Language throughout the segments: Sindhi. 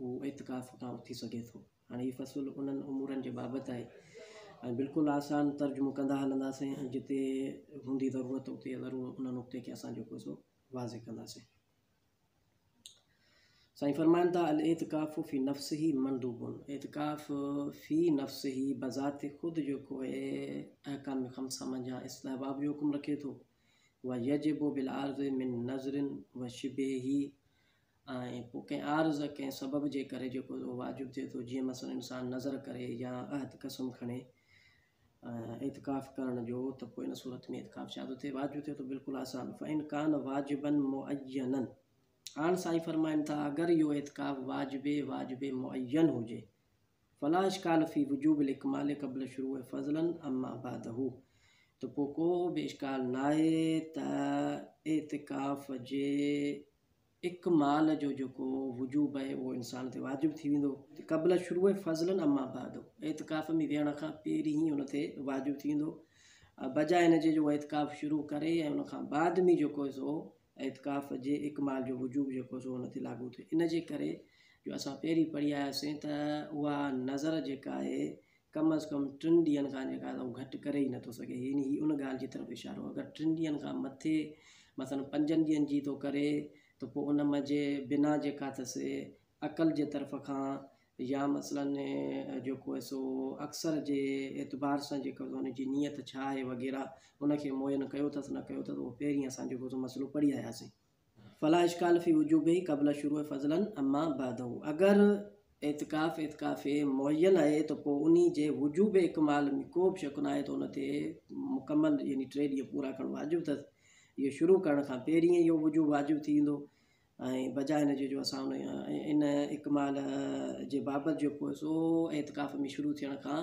هو اعتڪاف تان اٿي سگهي ٿو. هاڻي هي فصل انهن امورن جي بابت آهي ۽ بلڪل آسان ترجمو ڪندا هلنداسين ۽ جتي هوندي ضرورت اتي ضرور ان نقطي کي اسان جيڪو سو واضح ڪنداسين. سائين فرمائن ٿا الاعتڪاف في نفسه مندوب اعتڪاف في نفسه بذات خود جيڪو اهي احڪام خمسه منجهان استحباب جو حڪم رکي ٿو ويجب بالعرض من نظر وشبهه ۽ پوء ڪنهن عارض ڪنهن سبب جي ڪري جيڪو اهو واجب ٿئي ٿو جيئن مثلا انسان نذر ڪري يا عهد قسم کڻي اعتڪاف ڪرڻ جو ته پوء ان صورت ۾ اعتڪاف ڇا ٿو ٿئي واجب ٿئي ٿو بلڪل آسان فإن ڪان واجبا معينا هاڻ سائين فرمائن ٿا اگر اهو اعتڪاف واجب واجب معين هجي فلا اشڪال في وجوب الاڪمال قبل شروع فضلا اما بعده ته پوء ڪو به اشڪال ناهي ته اعتڪاف جي اڪمال جو جيڪو وجوب آهي اهو انسان تي واجب ٿي ويندو قبل شروع فضلا اما بعد اعتڪاف ۾ ويهڻ کان پهرين هن تي واجب ٿي ويندو بجاء هن جي جو اعتڪاف شروع ڪري ۽ ان کان بعد ۾ جيڪو سو اعتڪاف جي اڪمال جو وجوب جيڪو سو هن تي لاڳو ٿئي ان جي ڪري جو اسان پهرين پڙهي آياسين ته اها نظر جيڪا آهي ڪم از ڪم ٽن ڏينهن کان جيڪا آهي سا هو گهٽ ڪري ئي نٿو سگهي يعني هي ان ڳالهه جي طرف اشارو آهي اگر ٽن ڏينهن کان مٿي مثلا پنجن ڏينهن جي ٿو ڪري ته پوء ان م جي بنا جيڪا اٿس عقل جي طرف کان يا مثلا جيڪو آهي سو اڪثر جي اعتبار سان جيڪو ان جي نيت ڇا آهي وغيره ان کي معين ڪيو اٿس نه ڪيو اٿس اهو پهرين اسان جيڪو سو مسئلو پڙهي آياسين فلا اشکال في وجوبه قبل شروع فضلا اما بعده اگر اعتڪاف اعتڪاف معين آهي ته پوء انهي جي وجوب اڪمال ۾ ڪو به شڪ ناهي ته ان تي مڪمل يعني ٽي ڏينهن پورا ڪرڻ واجب اٿس اهو شروع ڪرڻ کان پهرين ئي اهو وجوب واجب ٿي ويندو ۽ بجاء ان جي جو اسان ان اڪمال جي بابت جيڪو سو اعتڪاف ۾ شروع ٿيڻ کان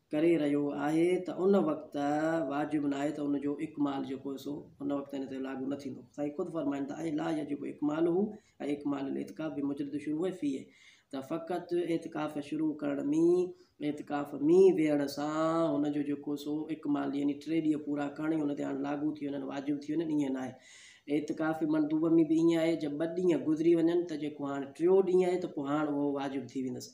ڪري رهيو آهي ته ان وقت واجب ناهي ته ان جو اڪمال جيڪو سو ان وقت ان تي لاڳو نه ٿيندو سائين خود فرمائن ٿا اي لا يجب اڪماله ۽ اڪمال الاعتڪاف بمجرد شروع فيه ته فقط اعتڪاف شروع ڪرڻ مين اعتڪاف مين ويهڻ سان ان جو جيڪو سو اڪمال يعني ٽي ڏينهن پورا ڪرڻ ئي ان تي هاڻ لاڳو ٿي وڃن واجب ٿي وڃن ائين ناهي اعتڪاف مندوب ۾ به ائين آهي جي ٻه ڏينهن گذري وڃن ته جيڪو هاڻ ٽيون ڏينهن آهي ته پوء هاڻ اهو واجب ٿي ويندس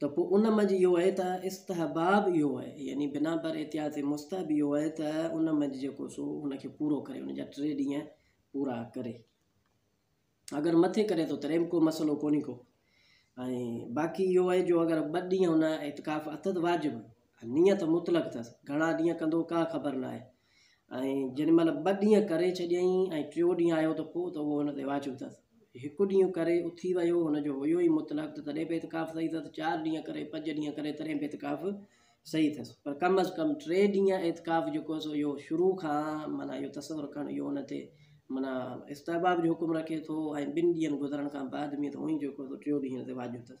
ته پوء ان منجهه اهو آهي ته استحباب اهو آهي يعني بنا بر احتياط مستحب اهو آهي ته ان منجهه جيڪو سو ان کي پورو ڪري ان جا ٽي ڏينهن پورا ڪري اگر مٿي ڪري ٿو تڏهن به ڪو مسئلو ڪونهي ڪو ۽ باقي اهو آهي جو اگر ٻ ڏينهن هن اعتڪاف اٿس واجب نيت مطلق اٿس گهڻا ڏينهن ڪندو ڪا خبر نه آهي ۽ جنھن مھل ٻه ڏينھن ڪري ڇڏيئين ۽ ٽيون ڏينھن آيو ته پوء ته اھو ھن تي واجب اٿس. ھڪ ڏينھن ڪري اٿي ويو ھن جو ھيو ئي مطلق ته تڏھن به اعتڪاف صحيح اٿس، چار ڏينھن ڪري، پنج ڏينھن ڪري تڏھن به اعتڪاف صحيح اٿس. پر ڪم از ڪم ٽي ڏينھن اعتڪاف جيڪو سو اھو شروع کان معنيٰ اھو تصور ڪرڻ اھو ھن تي معنيٰ استحباب جو حڪم رکي ٿو ۽ ٻن ڏينھن گذرڻ کان بعد ۾ ته اونئي جيڪو سو ٽيون ڏينھن ھن تي واجب اٿس.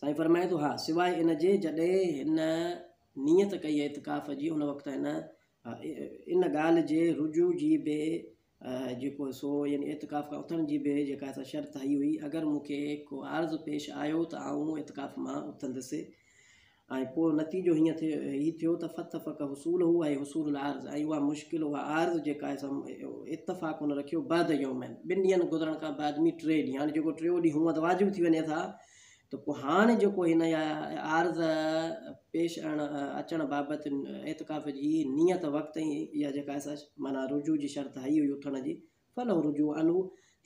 سائين فرمائي ٿو، ها، سواء ان جي جڏهن هن نيت ڪئي اعتڪاف جي ان وقت هن ان ڳالهه جي رجوع جي به جيڪو سو يعني اعتڪاف کان اٿڻ جي به جيڪا سا شرط هئي هئي اگر مون کي ڪو عارض پيش آيو ته آئون اعتڪاف مان اٿندس ۽ پوء نتيجو هيئن ٿي هي ٿيو ته فتفق حصوله اي حصول العارض ۽ اها مشڪل اها عارض جيڪا آهي سا اتفاق هن رکيو بعد يومين ٻن ڏينهن گذرڻ کان بعد مي ٽي ڏينهن هاڻي جيڪو ٽيو ڏينهن هونئن ته واجب ٿي وڃي ٿا ته پوء هاڻي جيڪو هن اها عارض پيش اڻ اچڻ بابت اعتڪاف جي نيت وقت ۽ اها جيڪا آهي سا معنيٰ رجوع جي شرط هئي هئي اٿڻ جي فلو رجوع الو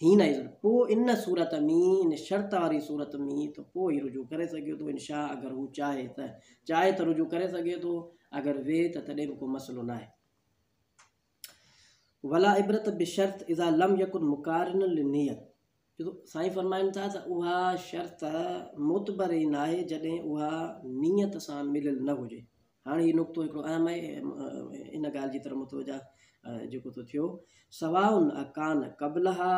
حين اذن پوء ان صورت ۾ ان شرط واري صورت ۾ ته پوء هي رجوع ڪري سگهي ٿو انشاء اگر هو چاهي ته چاهي ته رجوع ڪري سگهي ٿو اگر وي ته تڏهن به ڪو مسئلو ناهي ولا عبرت بشرط اذا لم يكن مقارن للنيت جو سائين فرمائن ٿا ته اها شرط معتبر ئي ناهي جڏهن اها نيت سان مليل نه هجي. هاڻ هي نقطو هڪڙو اهم آهي ان ڳالهه جي طرف متوجه جيڪو ٿو ٿيو سواء اڪان قبلها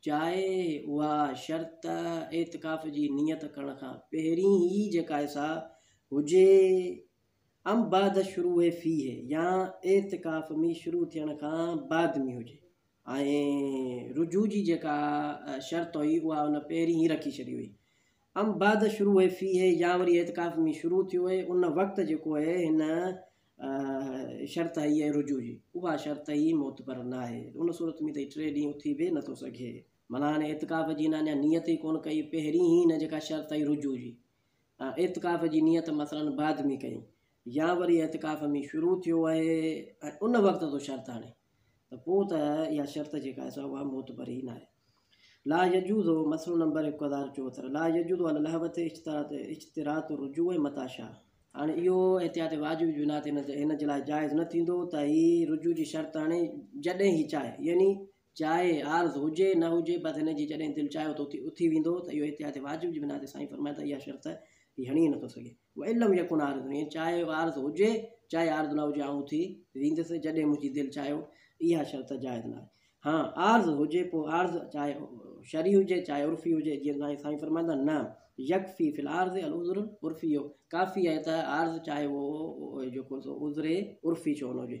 جائي اها شرط اعتڪاف جي نيت ڪرڻ کان پهرين ئي جيڪا سا هجي ام بعد الشروع فيه يا اعتڪاف ۾ شروع ٿيڻ کان بعد ۾ هجي ۽ رجوع جي جيڪا شرط هئي اها ان پهرين ئي رکي ڇڏي هئي ام بعد الشروع فيه يا وري اعتڪاف ۾ شروع ٿيو هئي ان وقت جيڪو هي هن شرط هئي هي رجوع جي اها شرط هئي معتبر نه آهي ان صورت ۾ ته ٽي ڏينهن اٿي به نٿو سگهي معنيٰ هن اعتڪاف جي هن اڃا نيت ئي ڪونه ڪئي پهرين ئي هن جيڪا شرط هئي رجوع جي ۽ اعتڪاف جي نيت مثلاً بعد ۾ ڪئي يا وري اعتڪاف ۾ شروع ٿيو آهي ۽ ان وقت تو شرط آڻي ته پوء ته اها شرط جيڪا آهي سا اها معتبر ئي ناهي. لا يجوز، مسئلو نمبر هڪ هزار چوهتر، لا يجوز علي الهوة اشتراط اشتراط الرجوع متى شاء. هاڻي اهو احتياط واجب جي بنا تي هن جي لاء جائز نه ٿيندو ته هي رجوع جي شرط آڻي جڏهن هي چاهي يعني جاء عارض هجي نه هجي بس هن جي جڏهن دل چاهيو ته اتي اٿي ويندو ته اهو احتياط واجب جي بنا تي سائين فرمايو ته اها شرط هڻي نٿو سگهي وان لم يڪن عارض يعني چاء عارض هجي چاء عارض نه هجي آئون اٿي ويندس جڏهن منهنجي دل چاهيو اها شرط جائز ناهي ها عارض هجي پوء عارض چاء شرعي هجي چاء عرفي هجي جيئن سائين سائين فرمائن ٿا نه يڪفي في العارض العذر العرفي اهو ڪافي آهي ته عارض چاهي اهو جيڪو سو عذر عرفي ڇو نه هجي